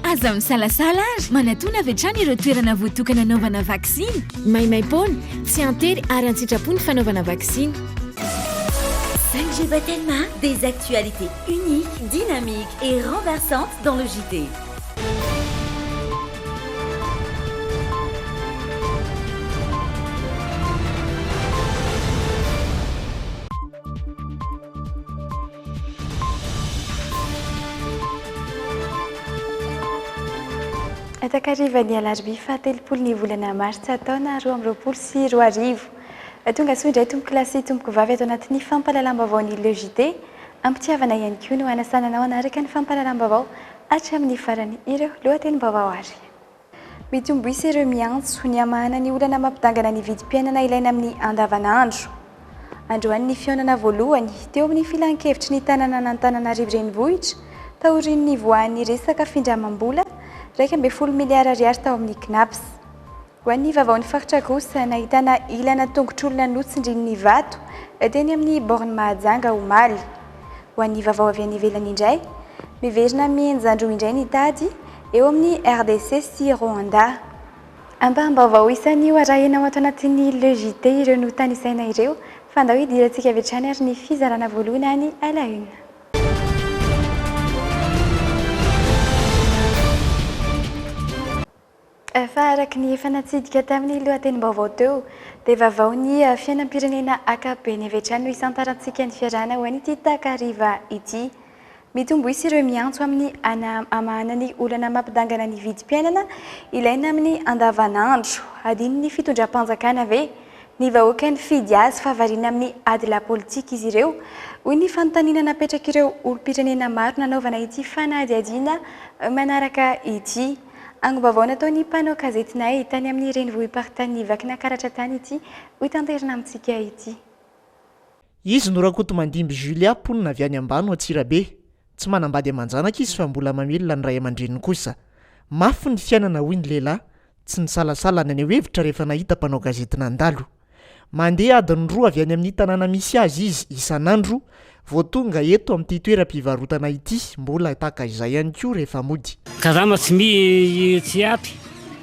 Aza misalasala ary manatona avy hatrany ireo toerana voatokana hanaovana vaksiny. Maimaim-poana, tsy an-tery ary an-tsitrapo ny fanaovana vaksiny. Sanjay Batelma, des actualités uniques, dynamiques et renversantes dans le JT. Takarivan'ny alarobia fahatelopolo ny volana martsa taona roa amby roapolo sy roa arivo. Tonga soa indray tompokolahy sy tompokovavy ato anatin'ny fampahalalam-baovaon'ny Le JT. Am-pitiavana ihany koa no hanasana anao hanaraka ny fampahalalam-baovao hatramin'ny farany ireo lohatenim-baovao ary. Mety ho mboisa ireo miantso ny hamahana ny olana mampidangana ny vidim-piainana ilaina amin'ny andavanandro. Androany ny fihaonana voalohany teo amin'ny Filan-kevitry ny tanànan'Antananarivo Renivohitra taorian'ny nivoahan'ny resaka findramam-bola iraika ambin'ny folo miliara ariary tao amin'ny Cnaps. Ho an'ny Vaovaon'ny Faritra kosa, nahitana ilana tongotr'olona notsindrin'ny vato teny amin'ny Borne Mahajanga omaly. Ho an'ny Vaovao avy any ivelany indray, miverina mihenjan-dro indray ny tady eo amin'ny RDC sy Rwanda. Ampaham-baovao isanio arahina ao ato anatin'ny Le JT ireo notanisaina ireo, fa andao hidirantsika avy hatrany ary ny fizarana voalohany any à la une. Fa araka ny efa natsidika tamin'ny lohatenim-baovao teo dia vavaon'ny fiainam-pirenena akapobeny avy hatrany no hisantarantsika ny fiarahana ho an'ity takariva ity. Mitombo isa ireo miantso amin'ny hanamahana ny olana mampidangana ny vidim-piainana ilaina amin'ny andavanandro. Adinon'ny fitondram-panjakana ve ny vahoaka nifidy azy fa variana amin'ny ady lapolitika izy ireo? hoy ny fanontaniana napetrak'ireo olom-pirenena maro nanaovana ity fanadihadiana manaraka ity. Angom-baovao nataon'ny mpanao gazetinay tany amin'ny renivohi-paritan'i Vakinakaratra tany ity hotanterina amintsika ity. Izy no Rakotomandimby Julia mponina avy any Ambano Antsirabe. Tsy manambady aman-janaka izy fa mbola mamelona ny ray aman-dreniny kosa. Mafy ny fiainana hoy ny lehilahy, tsy nisalasala naneho hevitra rehefa nahita mpanao gazety nandalo. Mandeha adiny roa avy any amin'ny tanàna misy azy izy isan'andro vao tonga eto amin'ity toeram-pivarotana ity, mbola tahaka izay ihany koa rehefa mody. Karama tsy miha tsy ampy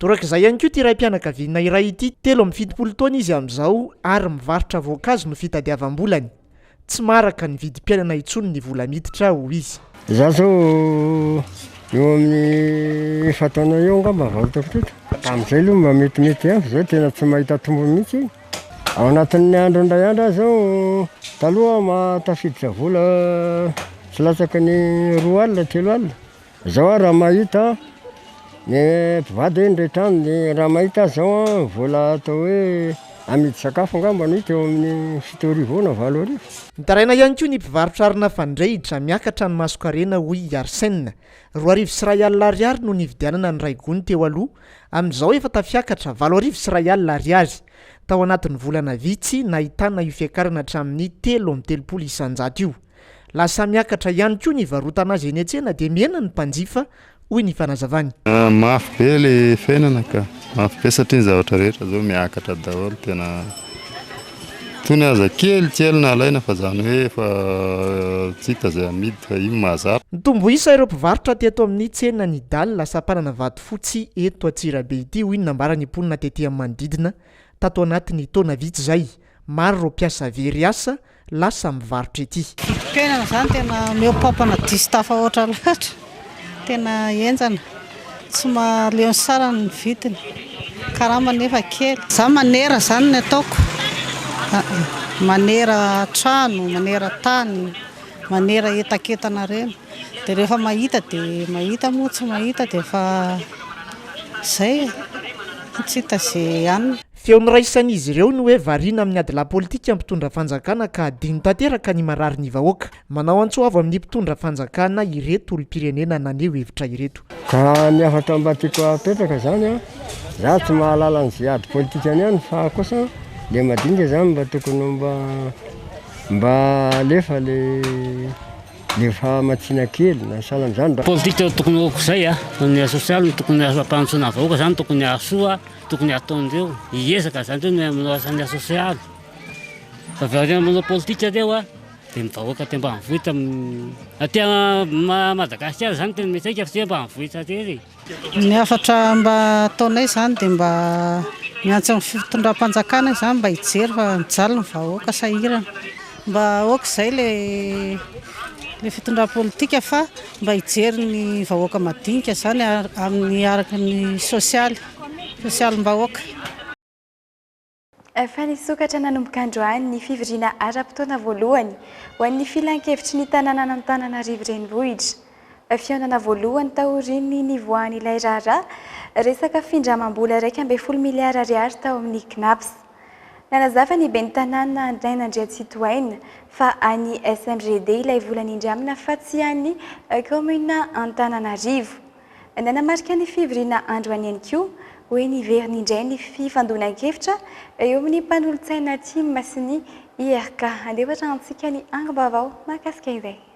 Torak'izay ihany koa ity raim-pianakaviana iray ity, telo amby fitopolo taona izy amin'izao ary mivarotra voankazo no fitadiavam-bolany. Tsy maharaka ny vidim-piainana intsony ny vola miditra, hoy izy. Izaho izao eo amin'ny efa-taona eo angamba vao hitako teto. Tamin'izay aloha mba metimety ihany fa izao tena tsy mahita tombony mihitsy. Ao anatin'ny andro indray andro aza aho, taloha aho mahatafiditra vola tsy latsaka ny roa alina, telo alina. Zao a raha mahita ny mpivady hoe indray trano de raha mahita azy zao a vola atao hoe amidy sakafo angamba no hita eo amin'ny fito arivo eo na valo arivo. Mitaraina ihany koa ny mpivarotra arina fandrehitra, miakatra ny masonkarena hoy i Arsène. Roa arivo sy iray alina ariary no nividianana ny ray gony teo aloha, amin'izao efa tafiakatra valo arivo sy iray alina ariary. Tao anatin'ny volana vitsy, nahitana io fiakarana hatramin'ny telo amby telopolo isan-jato io. Lasa miakatra ihany koa ny hivarotana azy eny an-tsena dia mihena ny mpanjifa, hoy ny fanazavany. Mafy be ilay fiainana ka. Mafy be satria ny zavatra rehetra izao miakatra daholo tena. Itony aza kely kely no alaina fa izany hoe efa tsy hita izay amidy fa io no mahazatra. Nitombo isa ireo mpivarotra teto amin'ny tsenan' i Dala sampanana Vatofotsy eto Antsirabe ity, hoy ny nambaran'ny mponina tety amin'ny manodidina, tato anatin'ny taona vitsy izay. Maro ireo mpiasa very asa lasa mivarotra ety. Vidim-piainana zany tena omeo pampana diso tafahoatra loatra, tena henjana, tsy mahaleo ny sarany ny vidiny, karama nefa kely. Za manera zany ny ataoko, manera trano, manera tany, manera entakentana reny, de rehefa mahita de mahita moa tsy mahita de efa zay e, tsy hita ze hanina. Feo noraisan'izy ireo ny hoe variana amin'ny adilahy politika ny mpitondra fanjakana ka adino tanteraka ny marary ny vahoaka. Manao antso avo amin'ny mpitondra fanjakana ireto olom-pirenena naneho hevitra ireto. Ka ny hafatra mba tiako hapetraka zany an, za tsy mahalala ny ze ady politikany any fa kosa le madinika zany mba tokony ho mba mba alefa le le fahamatsiana kely na sahala am'zany. Politika tokony ho akoizay an, ny sosialy no tokony hampanantsoina vahoaka zany tokony hahasoa. Tokony ataondreo hiezaka zany reo ny manao asa ny sosialy fa avy aoriana manao politika reo a de ny vahoaka aty ambanivohitra aty Madagasikara zany tena mety aika fa tsy hoe ambanivohitra rery e. Ny hafatra mba ataonay zany de mba miantso ny fitondram-panjakana zany mba hijery fa mijaly ny vahoaka sahirana. Mba ok zay le le fitondram politika fa mba hijery ny vahoaka madinika zany amin'ny araka ny sosialy sosialim bahoaka. Efa nisokatra nanomboka androany ny fivoriana ara-potoana voalohany ho an'ny Filankevitry ny tanànan'Antananarivo Renivohitra. Fihaonana voalohany taorian'ny nivoahan'ilay raharaha resaka findramam-bola iraika ambin'ny folo miliara ariary tao amin'ny Cnaps. Nanazava ny ben'ny Tanàna Andriaina Andriantsitohaina fa an'ny SMGD ilay vola nindramina fa tsy an'ny kaominina Antananarivo. Nanamarika ny fivoriana andro an'iny koa hoe niverina indray ny fifandonan-kevitra eo amin'ny mpanolotsaina Tim sy ny IRK. Handefa hatramintsika ny angom-baovao mahakasika izay.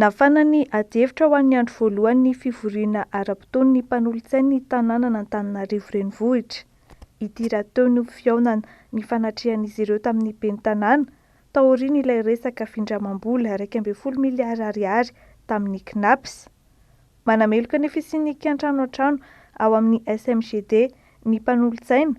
Nafana ny adihevitra ho an'ny andro voalohan'ny fivoriana ara-potoan'ny mpanolotsain'ny tanànan'Antananarivo Renivohitra ity rahateo ny ho fihaonana nifanatrehan'izy ireo tamin'ny ben'ny tanàna taorian'ilay resaka findramam-bola iraika ambin'ny folo miliara ariary tamin'ny Cnaps. Manameloka ny fisian'ny kiantrano an-trano ao amin'ny SMGD ny mpanolotsaina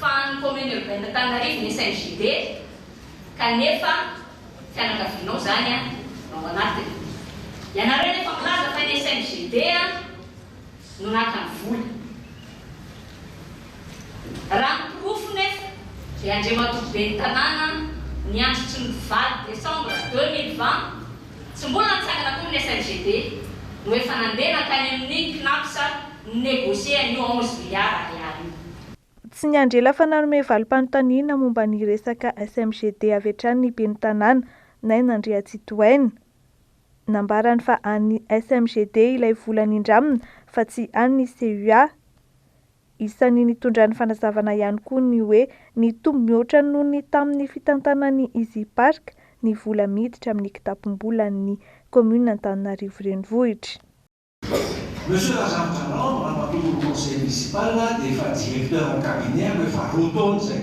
Fahan'ny commune urbaine Antananarivo ny SNJD kanefa fianakavianao izany no ao anatiny. Ianareo anefa milaza fa ny SNJD no naka ny vola. Raha ny porofo nefa dia Andriamatoa ben'ny tanàna niandry tsy nivadika Décembre deux mille vingt. Tsy mbola nitsangana koa ny FMGD no efa nandeha nankany amin'ny Cnaps ni-negocier an'io onze milliards ariary io. Tsy niandry ela fa nanome valim-panontaniana momba ny resaka FMGD avy hatrany ny ben'ny Tanàna, Naina Andriatsitohaina. Nambarany fa an'ny FMGD ilay vola nindramina fa tsy an'ny CUA. Isan'ny nitondrany fanazavana ihany koa ny hoe nitombo mihoatra noho ny tamin'ny fitantanan'ny Easy Park ny vola miditra amin'ny kitapom-bolan'ny Kaominina Antananarivo Renivohitra. Monsieur Razafintrandrahona, Ramatoa Tony Conseil Municipal dia efa Directeur en Cabinet aho efa roa taona izay.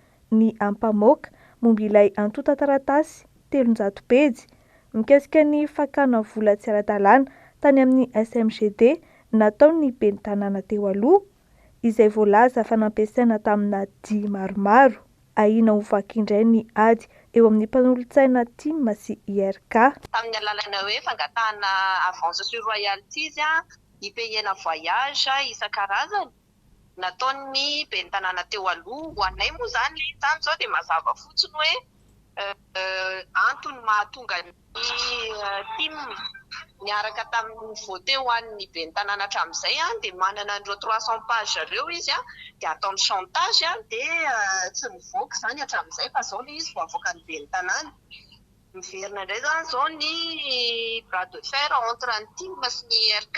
ny ampamoaka momba ilay antontan-taratasy telonjato pejy mikasika ny fakana vola tsy ara-dalàna tany amin'ny SMGD nataon'ny ben'ny tanàna teo aloha, izay voalaza fa nampiasaina tamina dihy maromaro. Ahiana ho vaky indray ny ady eo amin'ny mpanolotsaina Tim sy IRK. tamin'ny alalan'ny hoe fangatahana avances sur royalties, hipeihena voyage isan-karazany. nataon'ny ben'ny tanàna teo aloha. Ho anay moa izany ilay entana izao dia mazava fotsiny hoe antony mahatonga ny tim niaraka tamin'ny vote ho an'ny ben'ny tanàna hatramin'izay dia manana an'ireo trois cent pages ireo izy dia ataony chantage dia tsy nivoaka izany hatramin'izay fa izao ilay izy vao avoakan'ny ben'ny tanàna. Miverina indray izany izao ny bras de fer entre ny tim sy ny ERK.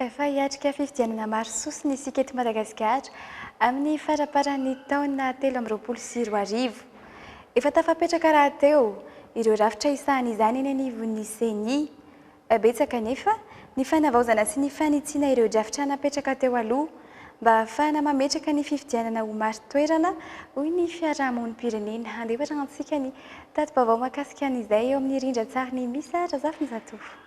Efa hiatrika fifidianana maro sosona isika eto Madagasikara amin'ny faraparan'ny taona telo amby roapolo sy roa arivo. Efa tafapetraka rahateo ireo rafitra hisahan'izany eny anivon'ny Ceni. Betsaka anefa ny fanavaozana sy ny fanitsiana ireo drafitra napetraka teo aloha mba hahafahana mametraka ny fifidianana ho marin-toerana, hoy ny fiarahamonim-pirenena. Handeha hoarahantsika ny tati-baovao mahakasika an'izay eo amin'ny rindran-tsarin'i Misa Razafinjatovo.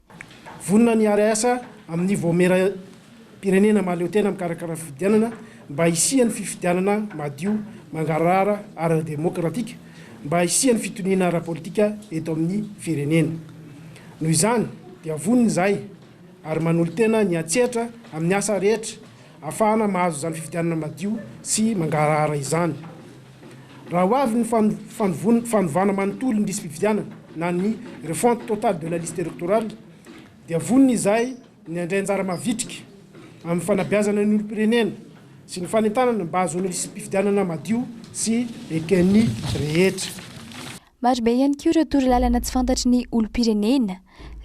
Vonona ny hiara-hiasa amin'ny Vaomieram-pirenena mahaleotena mikarakara fifidianana mba hisian'ny fifidianana madio, mangarahara ary demokratika, mba hisian'ny fitoniana ara-politika eto amin'ny firenena. Noho izany dia vonona izahay ary manolo-tena ny hiantsehatra amin'ny asa rehetra ahafahana mahazo izany fifidianana madio sy mangarahara izany. Raha ho avy ny fanovana manontolo ny lisi-pifidianana na ny refonte totale de la liste électorale dia vonona izahay ny handray anjara mavitrika amin'ny fanabeazana ny olom-pirenena sy ny fanentanana mba hahazoana lisi-pifidianana madio sy eken'ny rehetra. Marobe ihany koa ireo torolalana tsy fantatry ny olom-pirenena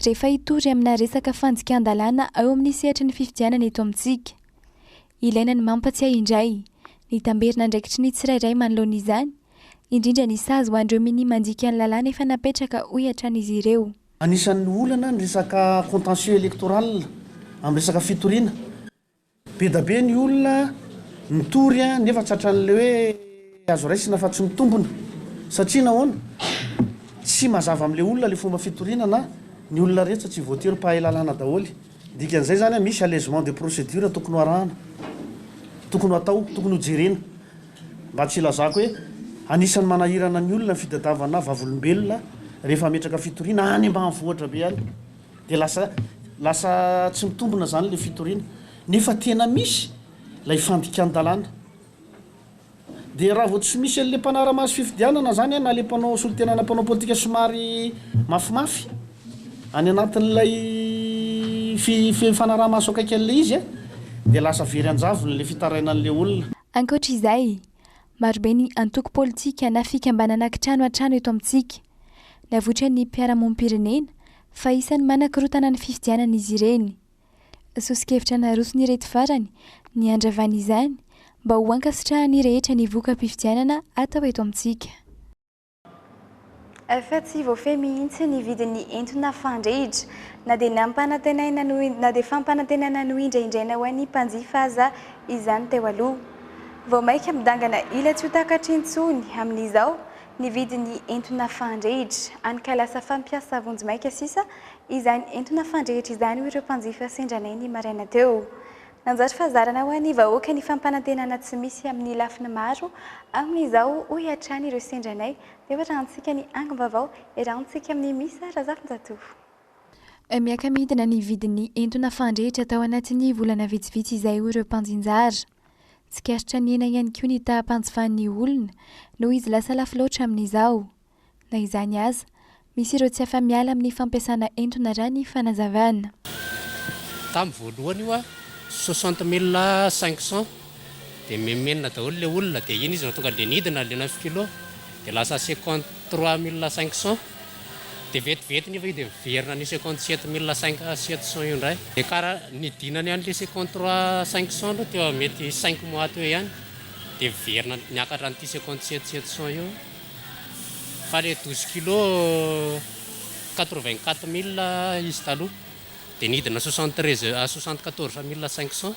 rehefa hitory amina resaka fandikan-dalàna ao amin'ny sehatry ny fifidianana eto amintsika. Ilaina ny mampatsiahy indray ny tamberin'andraikitry ny tsirairay manoloana izany, indrindra ny sazy ho an'ireo minia mandika ny lalàna efa napetraka, hoy hatrany izy ireo. Anisan'ny olana ny resaka contentieux électoral amin'ny resaka fitoriana. Be da be ny olona mitory nefa tratran'ilay hoe azo raisina fa tsy mitombina. Satria nahoana? Tsy mazava amin'ilay olona ilay fomba fitoriana na ny olona rehetra tsy voatery mpahay lalàna daholo. Dikan'izay izany misy allègement de procédure tokony ho arahana, tokony ho atao, tokony ho jerena mba tsy hilazako hoe anisan'ny manahirana ny olona ny fitadiavana vavolombelona rehefa hametraka fitoriana any ambanivohitra be any dia lasa lasa tsy mitombina izany ilay fitoriana nefa tena misy ilay fandikan-dalàna. Dia raha vao tsy misy an'ilay mpanara-maso fifidianana izany na ilay mpanao solontena na mpanao politika somary mafimafy any anatin'ilay fifanaraha-maso akaiky an'ilay izy dia lasa very an-javony ilay fitarainan'ilay olona. Ankoatra izay, marobe ny antoko politika na fikambanana kitrano hatrany eto amintsika. Navoitran'ny mpiara-monimpirenena fa isan'ny manakorontana ny fifidianana izy ireny. Soso-kevitra naroson'ireto farany ny handravana izany mba ho ankasitrahan'ny rehetra ny voka-pifidianana atao eto amintsika. Efa tsy voafehy mihitsy ny vidin'ny entona fandrehitra. Na dia nampanantenaina no na dia fampanantenana nohindrahindraina ho an'ny mpanjifa aza izany teo aloha. Vao mainka midangana ila tsy ho takatra intsony amin'izao ny vidin'ny entona fandrehitra. Hany ka lasa fampiasa vonjimaika sisa Izany entona fandrehitra izany hoy ireo mpanjifa sendra anay ny maraina teo. Nanjary fahazarana ho an'ny vahoaka ny fampanantenana tsy misy amin'ny lafiny maro amin'izao hoy hatrany ireo sendra anay dia hoarahantsika ny angom-baovao iarahantsika amin'ny Misa Razafinjatovo. Miaka-midina ny vidin'ny entona fandrehitra tao anatin'ny volana vitsivitsy izay hoy ireo mpanjinjara. Tsikaritra nihena ihany koa ny taha-panjifan'ny olona noho izy lasa lafo loatra amin'izao. Na izany aza, misy ireo tsy afa-miala amin'ny fampiasana entona raha ny fanazavana. Tamin'ny voalohany io an, soixante mille cinq cents dia mimenona daholo ilay olona dia iny izy no tonga dia nidina ilay neuf kilo dia lasa cinquante trois mille cinq cents dia vetivety nefa io dia miverina any cinquante sept mille cinq sept cents io indray dia kara nidinany an'ilay cinquante trois cinq cents aloha teo mety cinq mois teo ihany dia miverina niakatra an'ity cinquante sept sept cents io. fa le douze kilo quatre vingt quatre mille izy taloha de nidina soixante treize à soixante quatorze mille cinq cent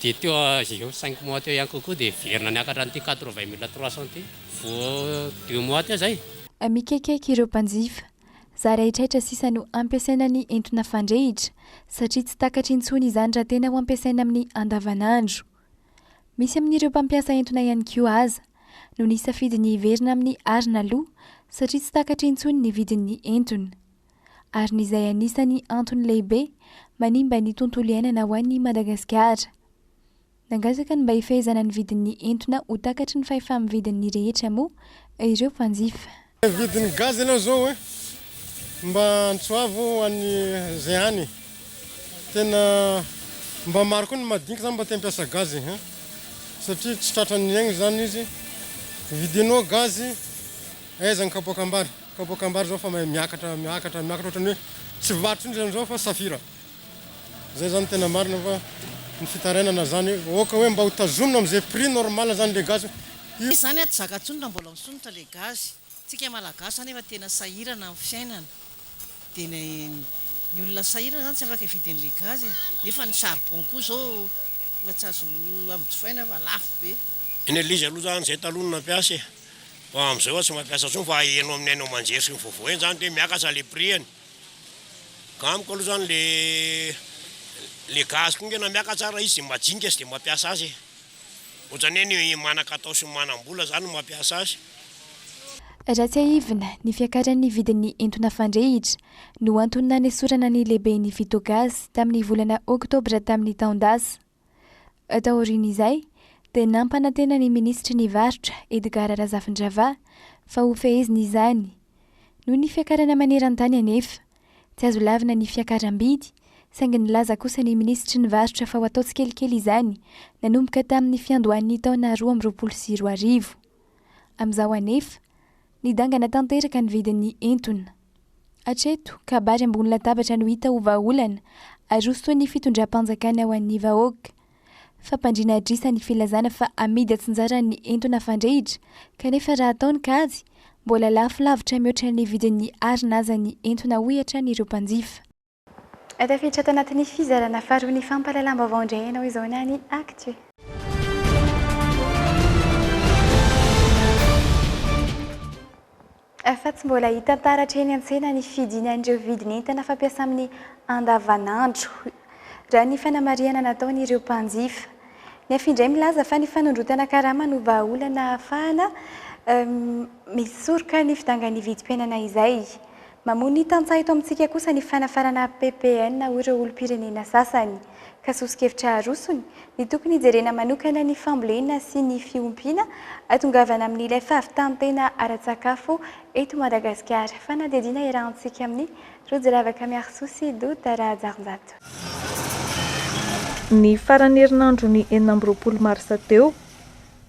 de teo eo cinq mois teo ihany kokoa de heverina niakatra an'ity quatre vingt mille trois cent ity vo deux mois teo zay. Mikekeka ireo mpanjifa. Zary haitraitra sisa no ampiasaina ny entona fandrehitra, satria tsy takatra intsony izany raha tena ho ampiasaina amin'ny andavanandro. Misy amin'ireo mpampiasa entona ihany koa aza no nisafidy ny hiverina amin'ny arina aloha satria tsy takatra intsony ny vidin'ny entona. Arina izay anisan'ny antony lehibe manimba ny tontolo iainana ho an'i Madagasikara. Nangataka ny mba hifehezana ny vidin'ny entona ho takatry ny fahefam-vidin'ny rehetra moa ireo mpanjifa. Ny vidin'ny gaz aloha zao e, mba antsoavo any zay any, tena mba maro koa ny madinika zany mba te hampiasa gaz e, satria tsy tratra ny aigny zany izy, vidinao gaz aiza ny kapoakambary, kapoakambary zao efa mahay miakatra miakatra miakatra ohatran'ny hoe tsy varotra indrindra amzao fa safira. Zay zany tena marina fa ny fitarainana zany oka hoe mba ho tazomina amze prix normal zany le gasy io. Tsy zany aty zaka tsony raha mbola misondrotra le gaz, tsika malagasy zany efa tena sahirana am fiainana de ny ny olona sahirana zany tsy afaka hividy anle gaz e, nefa ny charbon koa zao efa tsy azo ambojofaina fa lafo be. Ny elizy aloha zany zay taloha no nampiasa e, fa amzao efa tsy mampiasa tsony fa heno aminy haino aman-jery sy ny vaovao eny zany de miakatra le prix eny. Amiko aloha zany le le gasy koa ngena miakatra ara izy majinika izy de mampiasa azy e! Ohatrany hoe ny manan-katao sy ny manam-bola zany no mampiasa azy. Raha tsiahivina, ny fiakaran'ny vidin'ny entona fandrehitra no antony nanesorana ny lehiben'ny Vitogasy tamin'ny volana oktobra tamin'ny taon-dasa. Taorian'izay dia nampanantena ny minisitry ny Varotra, Edgard Razafindrava, fa hofehezina izany. Noho ny fiakarana maneran-tany anefa, tsy azo lavina ny fiakaram-bidy, saingy nilaza kosa ny minisitry ny Varotra fa ho atao tsikelikely izany nanomboka tamin'ny fiandohan'ny taona roa amby roapolo sy roa arivo. Amin'izao anefa, nidangana tanteraka ny vidin'ny entona. Hatreto, kabary ambony latabatra no hita ho vahaolana, arosoan'ny fitondram-panjakana ho an'ny vahoaka. Fampandriana adrisa ny filazana fa amidy atsinjara ny entona fandrehitra, kanefa raha atao ny kajy, mbola lafo lavitra mihoatra ny vidin'ny arina aza ny entona hoy hatrany ireo mpanjifa. Ato afenitra ato anatin'ny fizarana faharoa ny fampahalalam-baovao indray ianao izao na ny Actu. Fa tsy mbola hita taratra eny an-tsena ny fidinan'ireo vidin'entana fampiasa amin'ny andavanandro, raha ny fanamarihana nataon'ireo mpanjifa. Ny Afi indray milaza fa ny fanondrotana karama no vahaolana ahafahana misoroka ny fidangan'ny vidim-piainana izay. Mamoa ny tantsaha eto amintsika kosa ny fanafarana ppn ho ireo olom-pirenena sasany. Ka soso-kevitra arosony, ny tokony hijerena manokana ny fambolena sy ny fiompiana, hatongavana amin'ilay fahavitan-tena ara-tsakafo eto Madagasikara. Fanadihadiana iarahantsika amin'i Rojiravaka Miarisoa sy Douta Rahajarinjato. Ny faran'ny herinandron'ny enina amby roapolo marsa teo,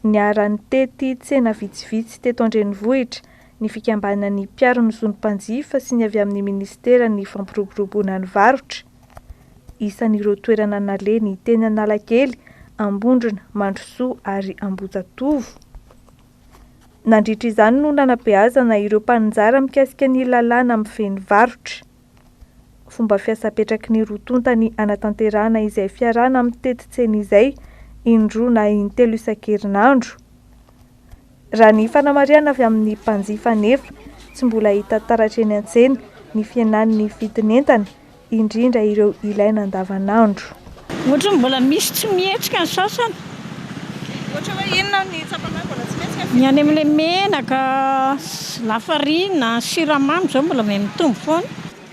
niara-nitety tsena vitsivitsy teto an-drenivohitra ny fikambanan'ny mpiaro ny zon'ny mpanjifa sy ny avy amin'ny minisiteran'ny fampiroboroboana ny varotra. Isan'ireo toerana naleny teny Analakely, Ambondrona, Mandrosoa ary Ambohijatovo. Nandritra izany no nanabeazana ireo mpaninjara mikasika ny lalàna mifehy ny varotra. Fomba fiasa apetraky ny roa tonta ny hanatanterahana izay fiarahana amin'ny tetin-tsena izay, indroa na intelo isan-kerinandro. Raha ny fanamarihana avy amin'ny mpanjifa anefa, tsy mbola hita taratra eny an-tsena ny fihenan'ny vidin'entana, indrindra ireo ilaina andavanandro. Ohatran'ny mbola misy tsy mihetsika ny sasany. Ohatra hoe inona ny tsapanao mbola tsy mihetsika ny. Ny any amin'ilay menaka, lafarina, siramamy izao mbola may mitombo foana.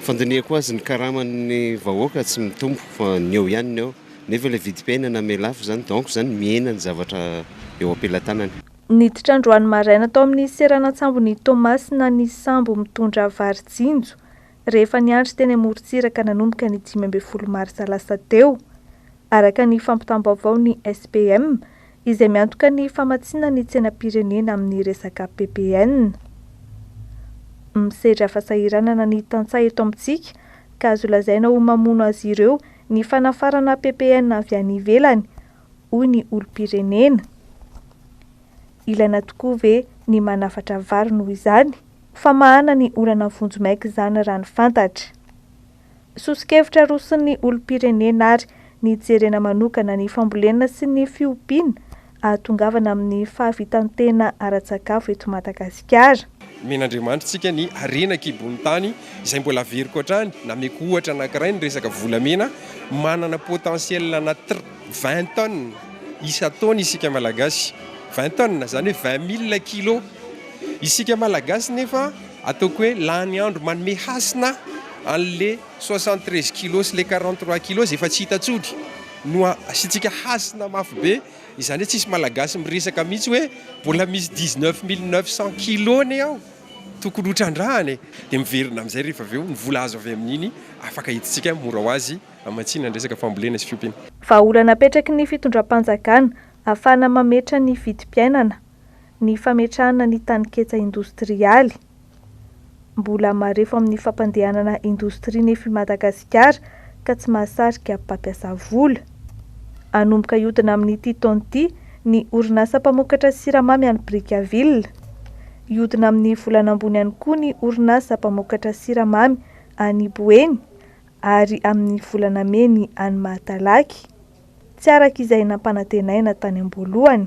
Fandinihako azy ny karaman'ny vahoaka tsy mitombo fa ny eo ihany ny eo nefa ilay vidim-piainana miha lafo izany donc izany mihena ny zavatra eo am-pelatanany. Niditra androany maraina tao amin'ny seranan-tsambon'i Toamasina ny sambo mitondra vary jinjo. rehefa niandry teny amorontsiraka nanomboka ny dimy ambin'ny folo marsa lasa teo, araka ny fampitam-baovao ny SPM izay miantoka ny famatsiana ny tsenam-pirenena amin'ny resaka ppn. Misedra fahasahiranana ny tantsaha eto amintsika ka azo lazaina ho mamono azy ireo ny fanafarana ppn avy any ivelany, hoy ny olom-pirenena. Ilaina tokoa ve ny manafatra vary noho izany? Famahana ny olana vonjimaika izany raha ny fantatra. Soso-kevitra aroson'ny olom-pirenena ary nijerena manokana ny fambolena sy ny fiompiana ahatongavana amin'ny fahavitan-tena ara-tsakafo eto Madagasikara. Omen'Andriamanitrsika ny harena an-kibon'ny tany izay mbola averiko hatrany, nameko ohatra anankiray ny resaka volamena, manana potentiel ana vingt tonnes isan-taona isika Malagasy, vingt tonnes izany hoe vingt mille kilos. Isika Malagasy nefa ataoko hoe lany andro manome hasina an'le soixante treize kilos sy le quarante trois kilos efa tsy hita tsotry no asiantsika hasina mafy be izany hoe tsisy Malagasy miresaka mihitsy hoe mbola misy dix neuf mille neuf cent kilos anie ao tokony ho trandrahana e! Dia miverina amin'izay rehefa avy eo ny vola azo avy amin'iny afaka entintsika mora ho azy hamatsiana ny resaka fambolena sy fiompiana. Vahaolana apetraky ny fitondram-panjakana ahafahana mametra ny vidim-piainana ny fametrahana ny taninketsa indostrialy. Mbola marefo amin'ny fampandehanana indostria nefy Madagasikara ka tsy mahasarika mpampiasa vola. Hanomboka hiodina amin'ity taona ity ny orinasa mpamokatra siramamy any Brickaville. Hiodina amin'ny volana ambony ihany koa ny orinasa mpamokatra siramamy any Boeny ary amin'ny volana mey ny any Mahatalaky. tsy araka izay nampanantenaina tany am-boalohany.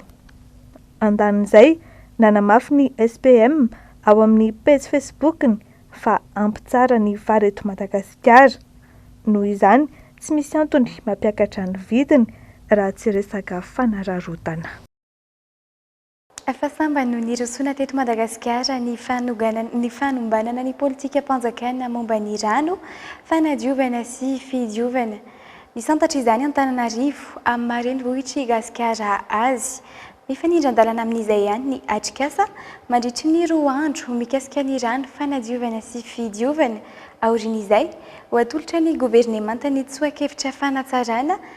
Andanin'izay, nanamafy ny SPM ao amin'ny pejy Facebook-ny fa hampitsara ny vary eto Madagasikara. Noho izany, tsy misy antony mampiakatra ny vidiny raha tsy resaka fanararaotana. Fa sambany no nirosoana teto Madagasikara ny fanoganana ny fanombanana ny politikam-panjakana momba ny rano, fanadiovana sy fidiovana. Misantatra izany Antananarivo, amin'ny maha renivohitr'i Gasikara azy. Mifanindran-dalana amin'izay ihany ny atrikasa mandritry ny roa andro mikasika ny rano, fanadiovana sy fidiovana. Aorian'izay, ho atolotra ny governemanta ny tsoa-kevitra fanatsarana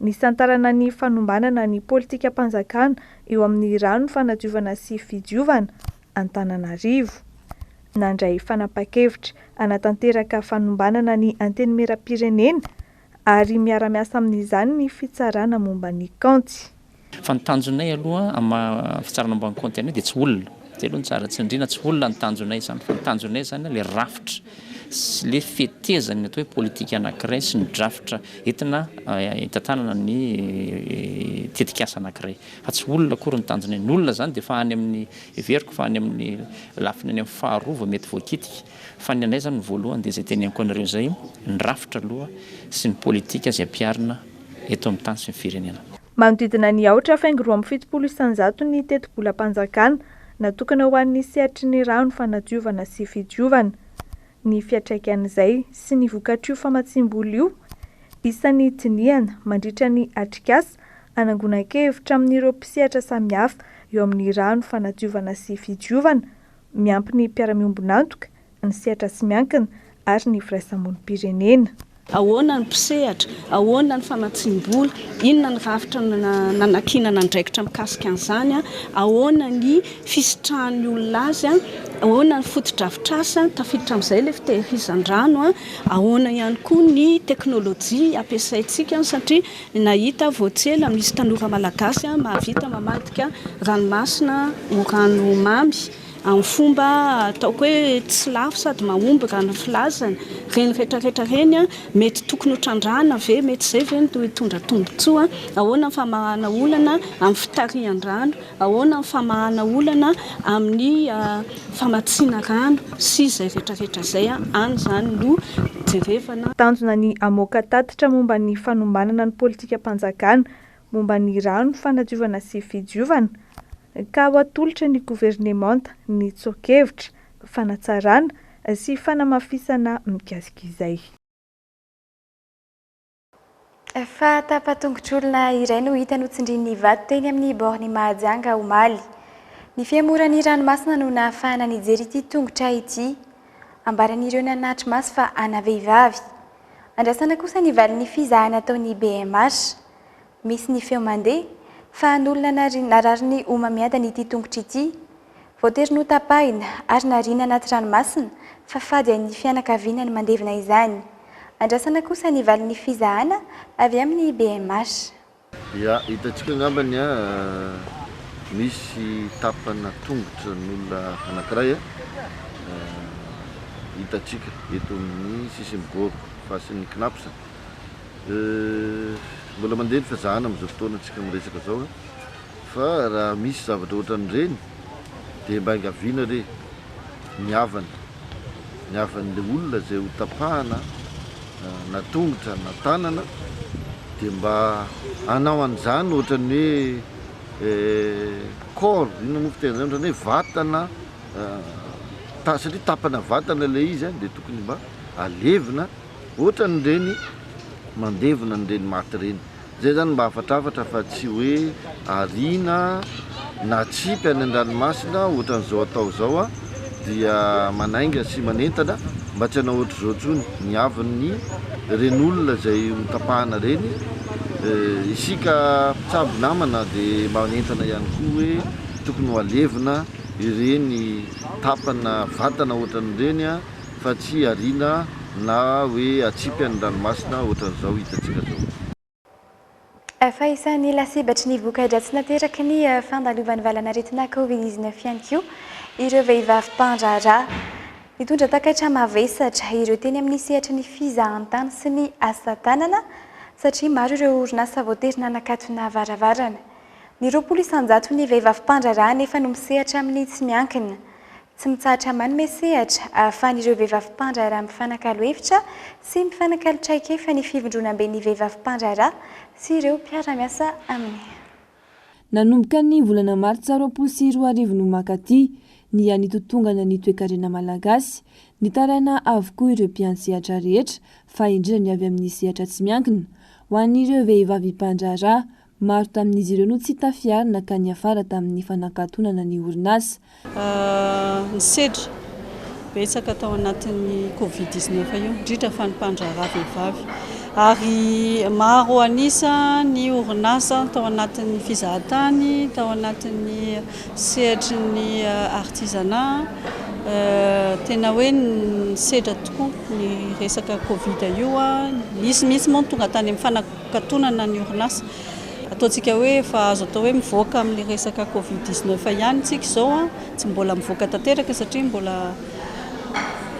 Nisantarana ny fanombanana ny politikam-panjakana eo amin'ny rano fanadiovana sy fidiovana Antananarivo. Nandray fanapahan-kevitra hanatanteraka fanombanana ny Antenimierampirenena ary miara-miasa amin'izany ny fitsarana momba ny kaonty. Fa ny tanjonay aloha amin'ny maha fitsarana ambany kaonty anay dia tsy olona, zay aloha no tsara, tsindriana tsy olona ny tanjonay izany fa ny tanjonay izany ilay rafitra sy ilay fetezan'ny atao hoe politika anankiray sy ny drafitra entina hitantanana ny tetikasa anankiray fa tsy olona akory ny tanjonay, ny olona izany dia efa any amin'ny heveriko fa any amin'ny lafiny any amin'ny faharoa vao mety voakitika fa ny anay izany ny voalohany dia izay teneniko anareo izay, ny rafitra aloha sy ny politika izay ampiharina eto amin'ny tany sy ny firenena. Manodidina ny aotra faingo roa amby fitopolo isanjato ny tetibolam-panjakana natokana ho an'ny sehatry ny rano fanadiovana sy fidiovana. Ny fiatraikan'izay sy ny vokatr'io famatsiam-bola io, isan'ny dinihana mandritra ny atrikasa anangonan-kevitra amin'ireo mpisehatra samihafa eo amin'ny rano fanadiovana sy fidiovana, miampy ny mpiara-miombon'antoka ny sehatra tsy miankina ary ny firaisamonim-pirenena. Ahoana ny mpisehatra? Ahoana ny famatsiam-bola? Inona ny rafitra nanankinana andraikitra mikasika an'izany? Ahoana ny fisitrahan'ny olona azy? Ahoana ny fotodrafitrasa? Tafiditra amin'izay ilay fitehirizan-drano. Ahoana ihany koa ny teknolojia ampiasaintsika? Satria nahita vao tsy ela misy tanora malagasy mahavita mamadika ranomasina ho rano mamy. amin'ny fomba ataoko hoe tsy lafo sady mahomby raha ny filazana, ireny retraretra ireny mety tokony ho trandrahana ve, mety izay ve no hitondra tombontsoa, ahoana ny famahana olana amin'ny fitarihan-drano, ahoana ny famahana olana amin'ny famatsiana rano sy izay retraretra izay, any izany no jerevana. Tanjona ny hamoaka tatitra momba ny fanombanana ny politikam-panjakana momba ny rano, fanadiovana sy fidiovana, ka ho atolotra ny governemanta ny tsoa-kevitra, fanatsarana sy fanamafisana mikasika izay. Efa tapa-tongotr'olona iray no hita notsindrian'ny vato teny amin'ny borne Mahajanga omaly. Ny fihemoran'ny ranomasina no nahafahana nijery ity tongotra ity. Ambaran'ireo nanatry maso fa ana vehivavy. Andrasana kosa ny valin'ny fizahana ataon'ny bmh. Misy ny feo mandeha, fa an'olona narary ny homamiadany ity tongotra ity. Voatery notapahina ary nariana anaty ranomasina, fa fady an'ny fianakaviana ny mandevina izany. Andrasana kosa ny valin'ny fizahana avy amin'ny bmh. Ia, hitantsika angamba ny misy tapana tongotra n'olona anankiray hitantsika eto amin'ny sisin'i Goro, fasin'ny Cnaps. Mbola mandeha ny fizahana amin'izao fotoana antsika miresaka izao a! Fa raha misy zavatra ohatran'ireny dia mba engaviana re ny havany, ny havan'ilay olona izay ho tapahana na tongotra na tanana dia mba hanao an'izany ohatran'ny hoe corps, inona moa fiteny an'izany, ohatran'ny hoe vatana ta- satria tapana vatana ilay izy a, dia tokony mba alevina Otrany ireny mandevona an'ireny maty ireny. Zay zany mba hafatrafatra fa tsy hoe ariana na tsipy any andranomasina otrany zao atao zao a! dia manainga sy manentana mba tsy hanao otrzao tsony ny havin'ny reny olona zay ho tapahana reny. Isika mpitsabo namana de manentana ihany koa hoe tokony ho alevina ireny tapana vatana otrany ireny a! fa tsy ariana na hoe atsipy any ranomasina ohatran'izao hitantsika zao. Fa isan'ny lasibatry ny voka-dratsy nateraky ny fandalovan'ny valan'aretina Covid dix neuf ihany koa ireo vehivavy mpandraharaha. Nitondra takaitra mavesatra ireo teny amin'ny sehatry ny fizahantany sy ny asa tanana satria maro ireo orinasa voatery nanakatona varavarana. Ny roapolo isan-jato ny vehivavy mpandraharaha anefa no misehatra amin'ny tsy miankina. Tsy mitsahatra manome sehatra ahafahan'ireo vehivavy mpandraharaha mifanakalo hevitra sy mifanakalo traikefa ny Fivondronamben'ny Vehivavy Mpandraharaha sy ireo mpiara-miasa aminy. Nanomboka ny volana martsa roapolo sy roa arivo no mankaty ny hanitotongana ny toekarena malagasy. Nitaraina avokoa ireo mpiandry sehatra rehetra fa indrindra ny avy amin'ny sehatra tsy miankina. Ho an'ireo vehivavy mpandraharaha, Maro tamin'izy ireo no tsy tafiarina ka niafara tamin'ny fanakatonana ny orinasa. Ny sedra betsaka tao anatin'ny covid dix neuf io, indrindra fa ny mpandraharaha vehivavy, ary maro an'isa ny orinasa tao anatin'ny fizahan-tany, tao anatin'ny sehatry ny artisanat. Tena hoe nisedra tokoa ny resaka covid io, nisy mihitsy moa ny tonga tany amin'ny fana-. Katonana ny orinasa. Ataontsika hoe efa azo atao hoe mivoaka amin'ny resaka covid dix neuf ihany isika izao an! Tsy mbola mivoaka tanteraka satria mbola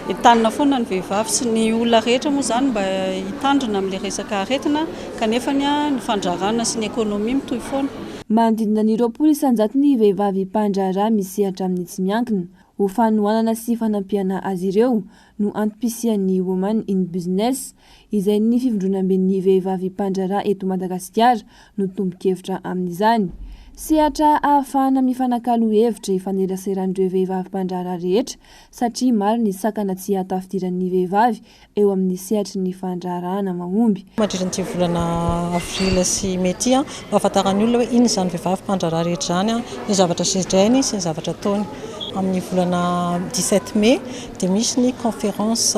entanina foana ny vehivavy sy ny olona rehetra moa izany mba hitandrina amin'ilay resaka aretina kanefa ny fandraharahana sy ny ekonomia mitohy foana. Manodidina ny roapolo isanjato ny vehivavy mpandraharaha misehatra amin'ny tsy miankina. Ho fanohanana sy fanampiana azy ireo no antom-pisian'ny Women in Business izay ny fivondronamben'ny vehivavy mpandraharaha eto Madagasikara no tompon-kevitra amin'izany. Sehatra ahafahana mifanakalo hevitra ifaneraseran'ireo vehivavy mpandraharaha rehetra satria maro ny sakana tsy hahatafidiran'ny vehivavy eo amin'ny sehatry ny fandraharahana mahomby. Mandritra an'ity volana avril sy mey ity, ampahafantaran'ny olona hoe inona izany vehivavy mpandraharaha rehetra izany, ny zavatra sedrainy sy ny zavatra ataony. Amin'ny volana dix-sept mey. dia misy ny conférence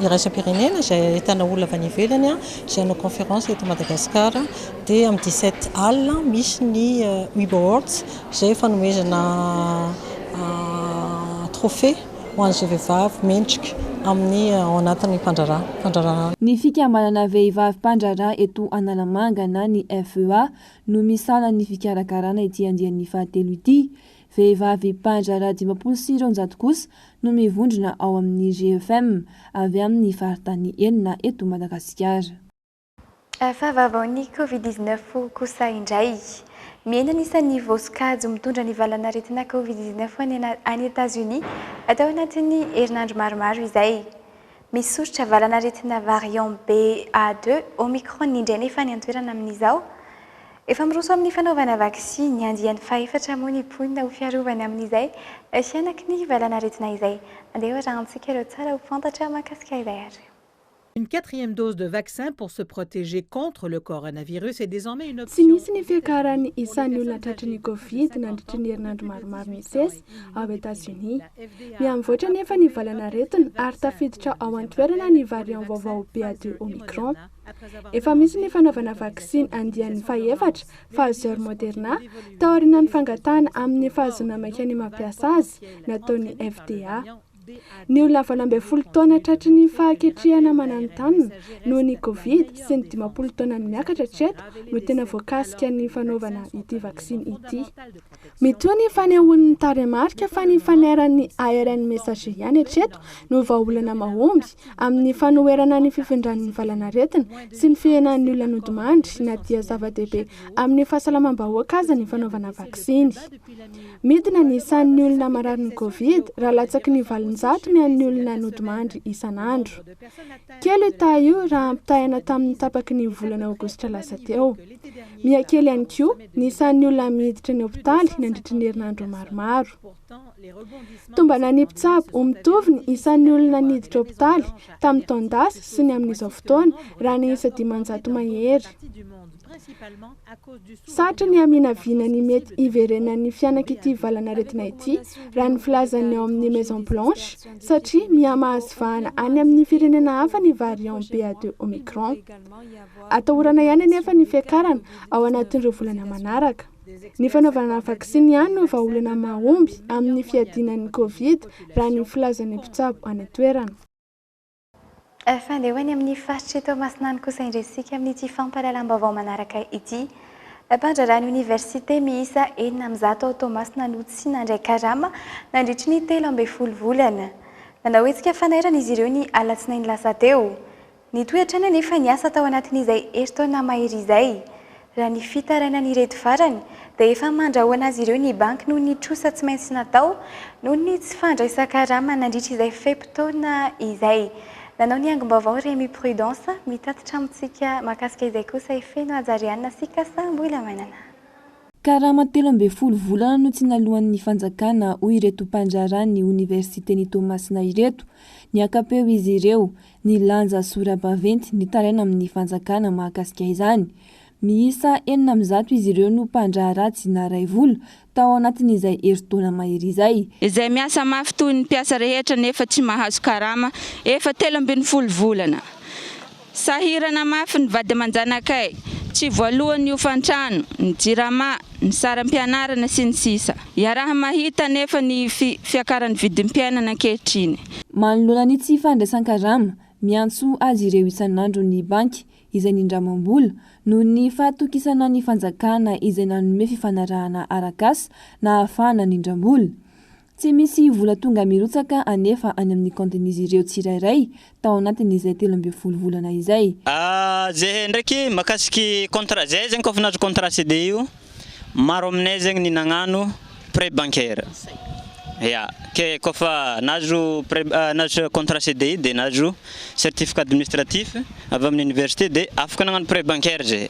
iraisam-pirenena izay ahitana olona avy any ivelany izay hanao conférence eto Madagasikara, dia amin'ny dix sept al misy ny Wib Awards izay fanomezana trophée ho an'izay vehivavy mendrika amin'ny ao anatin'ny fandraharahana. Ny fikambanana vehivavy mpandraharaha eto Analamanga na ny FEA no misahana ny fikarakarana ity andiany fahatelo ity, Vehivavy mpandraharaha dimampolo sy roanjato kosa no mivondrona ao amin'ny GEFEM avy amin'ny faritany enina eto Madagasikara. Fahavaovaon'ny Covid dix neuf kosa indray. Mihena ny isan'ny voasokajy mitondra ny valanaretina Covid dix neuf any Etazonia atao anatin'ny herinandro maromaro izay. Misosotra valan'aretina variant BA2, Omicron indray nefa any an-toerana amin'izao. Efa miroso amin'ny fanaovana vaksiny andiany fahefatra moa ny mponina ho fiarovana amin'izay hihanaky ny valan'aretina izay. Andeha hoarahantsika ireo tsara ho fantatra mahakasika izay ary. Une quatrième dose de vaccin pour se protéger contre le coronavirus est désormais une option. Tsy nisy ny fiakaran'ny isan'ny olona tratry ny Covid nandritry ny herinandro maromaro nisesy, ao Etazonia. Mihamivoatra anefa ny valan'aretina ary tafiditra ao an-toerana ny variant vaovao BA deux Omicron. Efa misy ny fanaovana vaksiny andiany fahefatra, Pfizer Moderna, taorianan'ny fangatahana amin'ny fahazoana maika ny mampiasa azy nataon'ny FDA. Ny olona valo ambin'ny folo taona tratry ny fahaketrehana mananontanona noho ny Covid sy ny dimampolo taona miakatra hatreto no tena voakasika ny fanaovana ity vaksiny ity. Mitohy ny fanehoan'ny tarehimarika fa ny fanairan'ny ARN messager ihany hatreto no vahaolana mahomby amin'ny fanoherana ny fifindran'ny valanaretina sy ny fihenan'ny olona nodimandry na dia zava-dehibe amin'ny fahasalamam-bahoaka aza ny fanaovana vaksiny. Midina ny isan'ny olona mararin'ny Covid raha latsaky ny valonjato ny an'ny olona nodimandry isan'andro. Kely io taha io raha ampitahaina tamin'ny tapaky ny volana aogositra lasa teo. Miha kely ihany koa ny isan'ny olona miditra ny hopitaly nandritry ny herinandro maromaro. Tombana ny mpitsabo ho mitovy ny isan'ny olona niditra hopitaly tamin'ny taon-dasa sy ny amin'izao fotoana raha ny isa dimanjato mahery. Sarotra ny haminavina ny mety hiverenan'ny fihanak'ity valan'aretina ity, raha ny filazan'ny ao amin'ny Maison Blanche, satria miha-mahazo vahana any amin'ny firenena hafa ny variant BA-deux Omicron. Atahorana ihany anefa ny fiakarana ao anatin'ireo volana manaraka. Ny fanaovana vaksiny ihany no vahaolana mahomby amin'ny fiadiana ny Covid, raha ny filazan'ny mpitsabo any an-toerana. Fandeha ho any amin'ny faritr'i Toamasina any kosa indray isika amin'ity fampahalalam-baovao manaraka ity. Mpandraharaha ny oniversite miisa enina amin'ny zato ao Toamasina no tsy nandray karama nandritry ny telo ambin'ny folo volana. Nanao hetsika fanairana izy ireo ny alatsinainy lasa teo. Nitohy hatrany anefa ny asa tao anatin'izay herintaona mahery izay. Raha ny fitarainan'ireto farany dia efa mandrahona azy ireo ny banky noho ny trosa tsy maintsy natao noho ny tsy fandraisan-karama nandritra izay fe-potoana izay. Nanao ny angom-baovao Remy Prudence, mitatitra amintsika mahakasika izay kosa i Feno Hajariana sy Kasa Mbolamainana. Karama telo ambin'ny folo volana no tsy naloan'ny fanjakana hoy ireto mpandraharaha ny oniversiten'i Toamasina ireto. Niaka-peo izy ireo. ny lanja sora-baventy nitaraina amin'ny fanjakana mahakasika izany. Miisa enina amin'ny zato izy ireo no mpandraharaha tsy naharay vola tao anatin'izay herintaona mahery izay. Izay miasa mafy toy ny mpiasa rehetra nefa tsy mahazo karama efa telo ambin'ny folo volana. Sahirana mafy ny vady aman-janakay, tsy voalohany ny hofantrano, ny jirama, ny saram-pianarana sy ny sisa Iaraha-mahita anefa ny fiakaran'ny vidim-piainana ankehitriny. Manoloana ny tsy fandraisan-karama, miantso azy ireo isan'andro ny banky izay nindramam-bola noho ny fahatokisana ny fanjakana izay nanome fifanarahana arak'asa nahafahana nindram-bola. Tsy misy vola tonga mirotsaka anefa any amin'ny kaontin'izy ireo tsirairay tao anatin'izay telo ambin'ny folo volana izay. Zeh ndraiky makasiky contrat zeh zegny kôfa nahazo contrat CDI io maro aminay zegny ny nagnano prêt bancaire ya ke kôfa nahazo prêt nahazo contrat CDI de nahazo certificat administratif avy amin'ny université de afaka nagnano prêt bancaire zeh.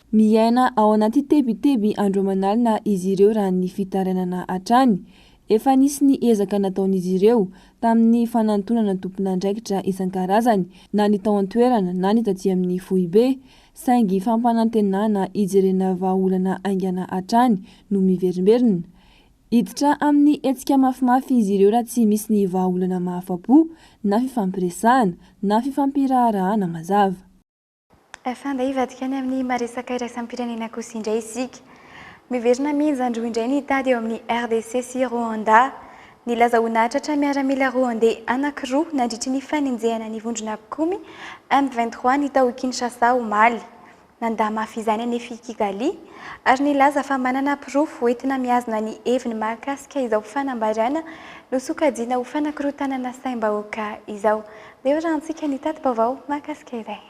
Miaina ao anaty tebiteby andro aman'alina izy ireo raha ny fitarainana hatrany. Efa nisy ny ezaka nataon'izy ireo tamin'ny fanantonana tompon'andraikitra isan-karazany na ny tao an-toerana na ny taty amin'ny foibe, saingy fampanantenana hijerena vahaolana haingana hatrany no miverimberina. Hiditra amin'ny hetsika mafimafy izy ireo raha tsy misy ny vahaolana mahafa-po na fifampiresahana na fifampiraharahana mazava. Efa andeha hivadika any amin'ny maha-resaka iraisam-pirenena kosa indray isika. Miverina mihinjandroa indray ny tady eo amin'ny RDC sy Rwanda. Nilaza ho nahatratra miaramila Rwandey anankiroa nandritry ny fanenjehana ny vondrona mpikomy M vingt trois ny tao Kinshasa omaly. Nandà mafy izany anefa i Kigali ary nilaza fa manana porofo hoentina mihazona ny heviny mahakasika izao fanambarana nosokajiana ho fanakorontanana saim-bahoaka izao. Eo raha antsika ny tati-baovao mahakasika izay.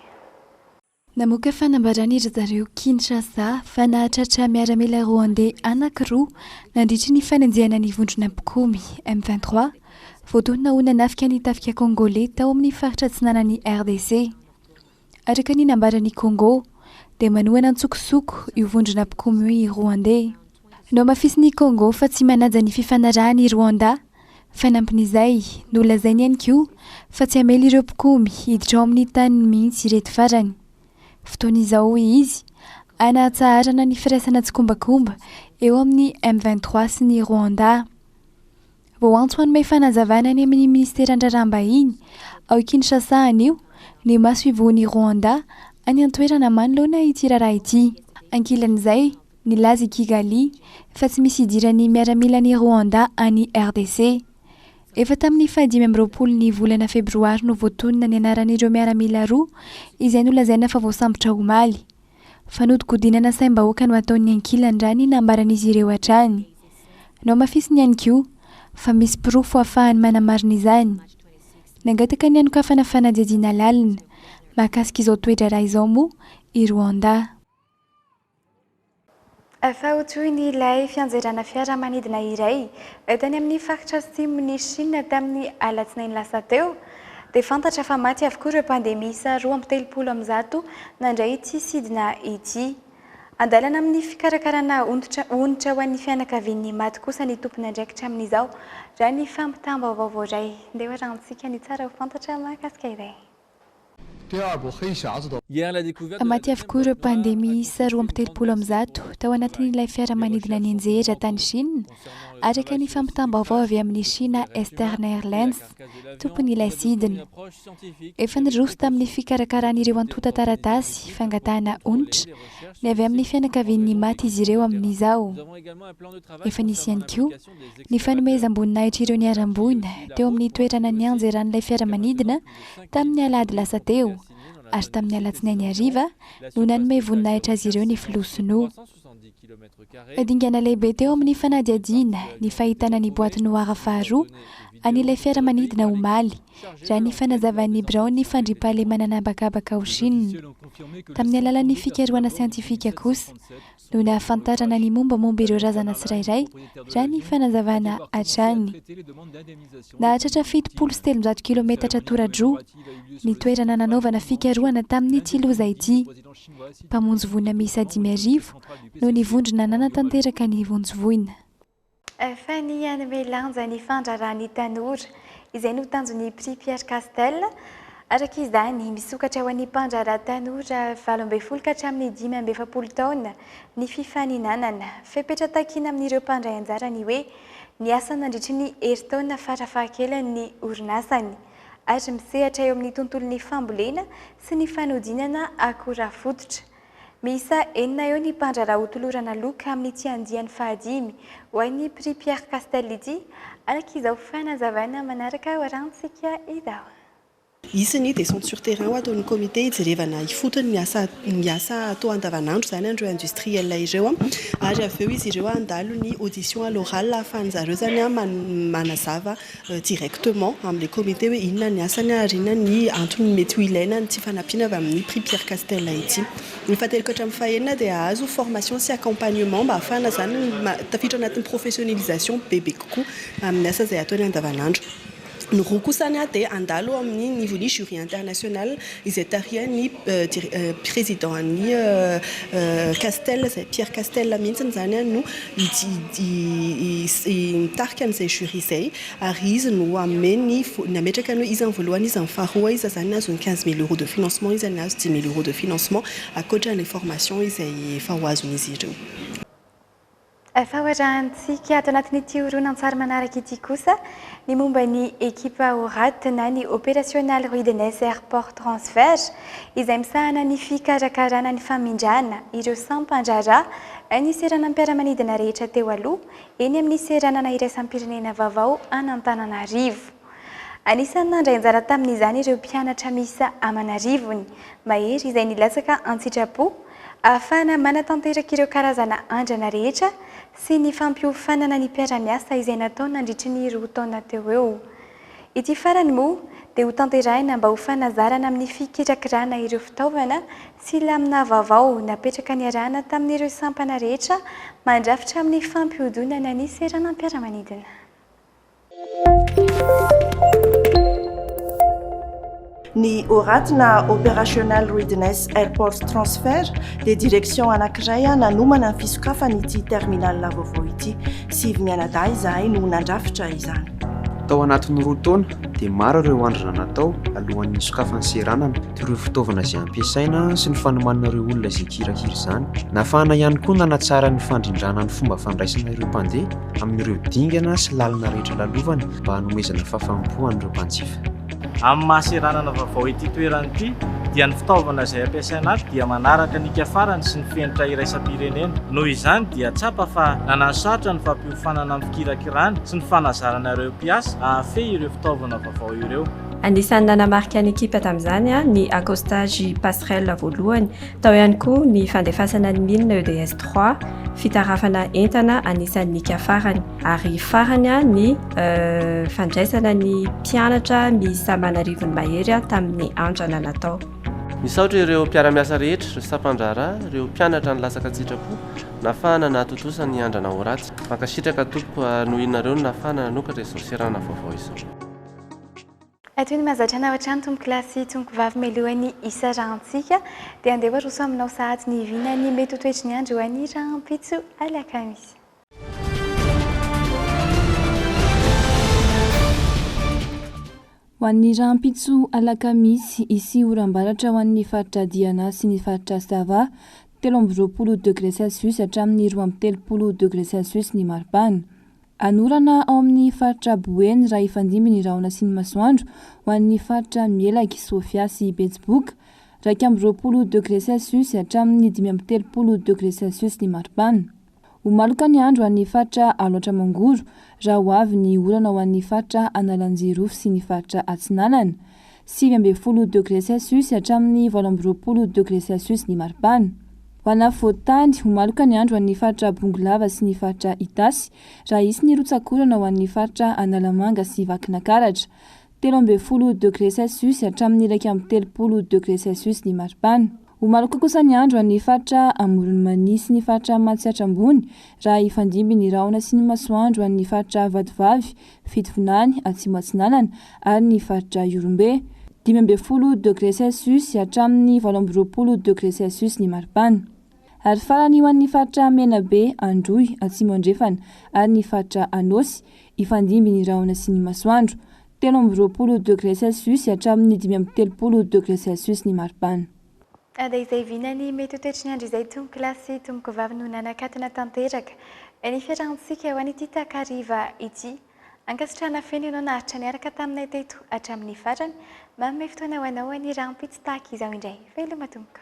Namoaka fanambaràna ry zareo Kinshasa fa nahatratra miaramila Rwandais anankiroa nandritry ny fanenjehana ny vondrona mpikomy M23, voatonona ho nanafika ny tafika Kongoley tao amin'ny faritra atsinanan'i RDC. Araka ny nambaran'i Kongo, dia manohana an-tsokosoko io vondrona mpikomy io i Rwande. Nohamafisin'i Kongo fa tsy manaja ny fifanarahana i Rwanda. Fanampin'izay, nolazainy ihany koa fa tsy hamela ireo mpikomy hiditra ao amin'ny taniny mihitsy ireto farany. Fotoana izao, hoy izy, hanahatsaharana ny firaisana tsikombakomba eo amin'ny M23 sy ny Rwanda. Vao antso hanome fanazavana any amin'ny Minisiteran-dRaharaham-bahiny ao Kinshasa anio ny masoivohon'i Rwanda any an-toerana manoloana ity raharaha ity. Ankilan'izay, nilaza i Kigali fa tsy misy hidiran'ny miaramilan'i Rwanda any RDC. Efa tamin'ny fahadimy amby roapolo ny volana febroary no voatonona ny anaran'ireo miaramila roa izay nolazaina fa voasambotra omaly. Fanodikodinana saim-bahoaka no ataon'ny ankilany raha ny nambaran'izy ireo hatrany. Nohamafisiny ihany koa, fa misy porofo hahafahany manamarina izany. Nangataka ny hanokafana fanadihadiana lalina, mahakasika izao toe-draharaha izao moa i Rwanda. Efa ho toy ny ilay fianjerana fiaramanidina iray tany amin'ny faritra atsimon'i Shina tamin'ny alatsinainy lasa teo, dia fantatra fa maty avokoa ireo mpandeha miisa roa amby telopolo amin'ny zato nandray ity sidina ity. Andalana amin'ny fikarakarana onitra ho an'ny fianakavian'ny maty kosa ny tompon'andraikitra amin'izao, raha ny fampitam-baovao voaray. Handeha ho arahintsika ny tsara ho fantatra mahakasika izay. Maty avokoa ireo mpandeha miisa roa amby telopolo amby zato tao anatin'ilay fiaramanidina nianjera tany Shina, araka ny fampitam-baovao avy amin'ny Shina Eastern Airlines, tompon'ilay sidina. Efa niroso tamin'ny fikarakarana ireo antontan-taratasy fangatahana onitra ny avy amin'ny fianakavian'ny maty izy ireo amin'izao. Efa nisy ihany koa Ny fanomezam-boninahitr'ireo niharam-boina teo amin'ny toerana nianjeran'ilay fiaramanidina tamin'ny alahady lasa teo ary tamin'ny alatsinainy hariva no nanome voninahitra azy ireo ny filoha sinoa. Dingana lehibe teo amin'ny fanadihadiana ny fahitana ny boîte noire faharoa an'ilay fiaramanidina omaly, raha ny fanazavan'ny biraon'ny fandriampahalemana an'habakabaka ao Shina. Tamin'ny alalan'ny fikarohana siantifika kosa, no nahafantarana ny mombamomba ireo razana tsirairay, raha ny fanazavana hatrany. Nahatratra fitopolo sy telonjato kilometatra toradroa ny toerana nanaovana fikarohana tamin'ity loza ity. Mpamonjy voina miisa dimy arivo no nivondrona nanatanteraka ny vonjy voina. Fany hanome lanja ny fandraharahan'ny tanora, izay no tanjon'ny Prix Pierre Castel. Araka izany, misokatra ho an'ny mpandraharaha tanora valo ambin'ny folo ka hatramin'ny dimy amby efapolo taona ny fifaninanana. Fepetra takiana amin'ireo mpandray anjara ny hoe niasa nandritry ny herintaona farafahakeliny ny orinasany ary misehatra eo amin'ny tontolon'ny fambolena sy ny fanodinana akora fototra. Miisa enina eo ny mpandraharaha hotolorana loka amin'ity andiany fahadimy ho an'ny Prix Pierre Castel ity, araka izao fanazavana manaraka hoarantsika izao. Hisy ny descente sur terrain ho ataon'ny comité hijerevana ifotony ny asa ny asa atao andavanandro izany an'ireo industriels ireo ary avy eo izy ireo handalo ny audition à l'oral ahafahan'izareo izany manazava directement amin'ilay comité hoe inona ny asany ary inona ny antony mety ho ilaina ny tsy fanampiana avy amin'ny prix Pierre Castel ity. Ny fahateloko ka hatramin'ny fahenina dia hahazo formation sy accompagnement mba hahafahana izany tafiditra anatin'ny professionnisation bebe kokoa amin'ny asa izay ataony andavanandro. Ny roa kosany dia handalo amin'ny nivon'ny jury international izay tarihan'ny Président-n'ny Castel, izay Pierre Castel mihitsiny izany no hitarika an'izay jury izay ary izy no hanome ny, ny hametraka ny hoe iza ny voalohany, iza ny faharoa, iza izany no hahazo ny quinze mille euros de financement, iza ny hahazo dix mille euros de financement, ankoatra an'ilay formation izay efa ho azon'izy ireo. Efa ho arahintsika ato anatin'ity horonantsary manaraka ity kosa ny momba ny ekipa ORAT na ny Operational Readiness Airport Transfer izay misahana ny fikarakarana ny famindrana ireo sampan-draharaha ny seranam-piaramanidina rehetra teo aloha eny amin'ny seranana iraisam-pirenena vaovao an'Antananarivo. Anisan'ny nandray anjara tamin'izany ireo mpianatra miisa aman'arivony mahery izay nilatsaka an-tsitrapo ahafahana manatanteraka ireo karazana andrana rehetra sy ny fampiofanana ny mpiara-miasa izay natao nandritry ny roa taona teo eo. Ity farany moa dia ho tanterahina mba ho fanazarana amin'ny fikirakirana ireo fitaovana sy lamina vaovao napetraka niarahana tamin'ireo sampana rehetra mandrafitra amin'ny fampihodonana ny seranam-piaramanidina. Ny ORAT na Operational Readiness Airport Transfer dia direction anankiray nanomana ny fisokafana ity terminal vaovao ity. Sivy mianadahy izahay no nandrafitra izany. Tao anatin'ny roa taona dia maro ireo andrina natao alohan'ny hisokafan'ny seranana, toy ireo fitaovana izay ampiasaina sy ny fanomanana ireo olona izay kirahira izany. Nafahana ihany koa nanatsara ny fandrindrana ny fomba fandraisana ireo mpandeha. amin'ireo dingana sy lalana rehetra lalovany mba hanomezana fahafaham-po an'ireo mpanjifa. Amin'ny maha seranana vaovao ity toerana ity dia ny fitaovana izay ampiasaina ato dia manaraka ny hika-farany sy ny fenitra iraisam-pirenena. Noho izany dia tsapa fa nananosarotra ny fampiofanana amin'ny fikirakirana sy ny fanazarana ireo mpiasa hahafehy ireo fitaovana vaovao ireo. Anisan'ny nanamarika ny ekipa tamin'izany ny accostage passerelle voalohany Tao ihany koa ny fandefasana ny milina EDS trois, fitarafana entana anisan'ny nika farany. Ary farany ny fandraisana ny mpianatra miisa aman' arivony mahery tamin'ny andrana natao. Misaotra ireo mpiara-miasa rehetra, ireo sampandraharaha, ireo mpianatra nilatsaka an-tsitrapo, nahafahana nahatontosa ny andrana ao Ratsy. Mankasitraka tompoko ary nohinareo ny nahafahana nanokatra izao seranana vaovao izao. Toy ny mahazatra anao hatrany tompokolahy sy tompokovavy mialoha ny hisarahantsika dia andeha ho aroso aminao sahady ny vinan'ny mety ho toetry ny andro any rahampitso alakamisy. Ho an'ny rahampitso alakamisy, hisy oram-baratra ho an'ny faritra Diana sy ny faritra Sava, telo amby roapolo degre celsius hatramin'ny roa amby telopolo degre celsius ny maripana. Anorana ao amin'ny faritra Boeny raha hifandimby ny rahona sy ny masoandro ho an'ny faritra Melaky, Sofia sy Betsiboka. Iraika amby roapolo degré celsius hatramin'ny dimy amby telopolo degré celsius ny maripana. Ho maloka ny andro any faritra Alaotra Mangoro raha ho avy ny orana ho an'ny faritra Analanjirofo sy ny faritra Atsinanana. sivy ambin'ny folo degré celsius hatramin'ny valo amby roapolo degré celsius ny maripana. Ho an'ny afovoan-tany, ho maloka ny andro ho an'ny faritra Bongolava sy ny faritra Itasy, raha hisy ny rotsak'orana ho an'ny faritra Analamanga sy Vakinakaratra, telo ambin'ny folo degré celsius hatramin'ny iraika amby telopolo degré celsius ny maripana. Ho maloka kosa ny andro ho an'ny faritra Amoron'i Mania sy ny faritra Matsiatra Ambony, raha hifandimby ny rahona sy ny masoandro ho an'ny faritra Vatovavy Fitovinany Atsimo Atsinanana ary ny faritra Ihorombe. Dimy ambin'ny folo degre celsius hatramin'ny valo amby roapolo degre celsius ny maripana. Ary farany ho an'ny faritra Menabe, Androy, Atsimo Andrefana ary ny faritra Anôsy, hifandimby ny rahona sy ny masoandro. Telo amby roapolo degre celsius hatramin'ny dimy amby telopolo degre celsius ny maripana. Dia izay vina ny mety ho toetry ny andro izay tompoko lahy sy tompoko vavy no nanakatona tanteraka ny fiarahantsika ho an' ity takariva ity. Ankasitrahana feno ianao naharitra niaraka taminay teto hatramin'ny farany. Manome fotoana ho anao ny rahampitso tahaka izao indray. Veloma tompoko.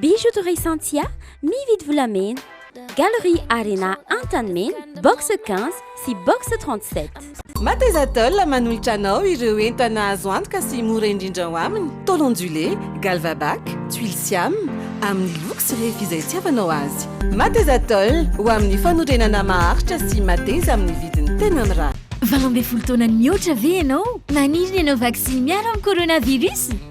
Bijouterie Santia, mividy volamena. Galerie Arena Antanimena, box 15 sy box 37. Matezatol manolotra anao ireo entana azo antoka sy mora indrindra ao aminy, tôle ondulée, Galvabac, tuiles Siam, amin'ny loko sy refy izay itiavanao azy. Matezatol, ho amin'ny fanorenana maharitra sy mateza amin'ny vidiny tena mirary. Valo ambin'ny folo taona nihoatra ve ianao? Maniry ny hanao vaksiny miaro amin'ny coronavirus?